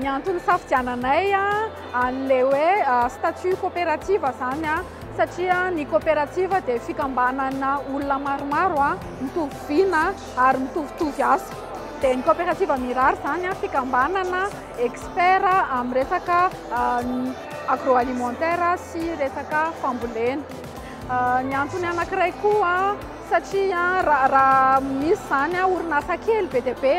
Ny antony hisafidiananay an'ilay hoe statut coopérative izany satria ny coopérative dia fikambanana olona maromaro mitovy vina ary mitovitovy asa. Dia ny coopérative Mirary izany fikambanana expert amin'ny resaka agroalimentaire sy resaka fambolena. Ny antony anankiray koa satria raha misy izany orinasa kely be dia be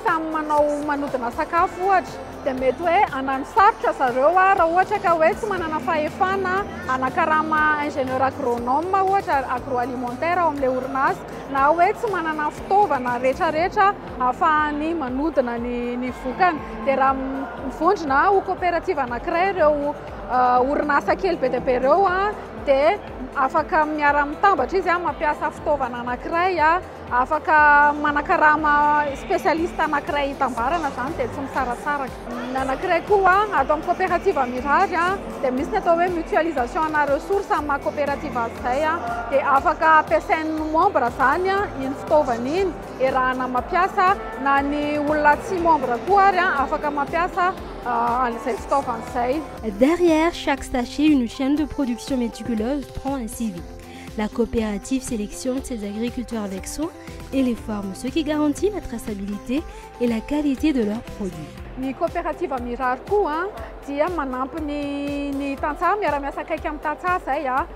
samy manao manodina sakafo ohatra dia mety hoe hanano sarotra zareo raha ohatra ka hoe tsy manana fahefana hanakarama ingénieur agronome ohatra agroalimentaire ao amin'ilay orinasa na hoe tsy manana fitaovana rehetrarehetra hahafahany manodina ny vokany dia raha mivondrona ho coopérative anankiray ireo orinasa kely be dia be ireo dia afaka miara-mitambatra izy mampiasa fitaovana anankiray Afaka manakarama spécialiste anankiray hitambarana izany dia tsy misaratsaraka. Ny anankiray koa ato amin'ny coopérative mirary dia misy ny atao hoe mutualisation ana ressources amin'ny maha coopérative azy izay dia afaka ampiasain'ny membre izany iny fitaovana iny erahana mampiasa na ny olona tsy membre koa ary afaka mampiasa an'izay fitaovana izay. Derrière chaque sachet, une chaîne de production méticuleuse prend un CV. La coopérative sélection de ces agriculteurs avec soin et les formes, ce qui garantit la traçabilité et la qualité de leurs produits. Ny coopérative mirary koa dia manampy ny ny tantsaha miara-miasa akaiky amin'ny tantsaha zay a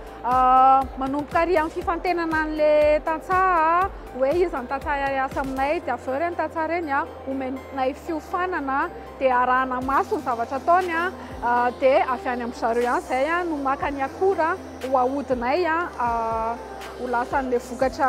manomboka ary amin'ny fifantenana an'le tantsaha hoe iza ny tantsaha hiasa aminay dia avy eo ireny tantsaha ireny a omenay fiofanana dia arahana maso ny zavatra ataony a dia avy any amin-dry zareo ihany izay a no maka ny akora ho ahodinay a ho lasan'ilay vokatra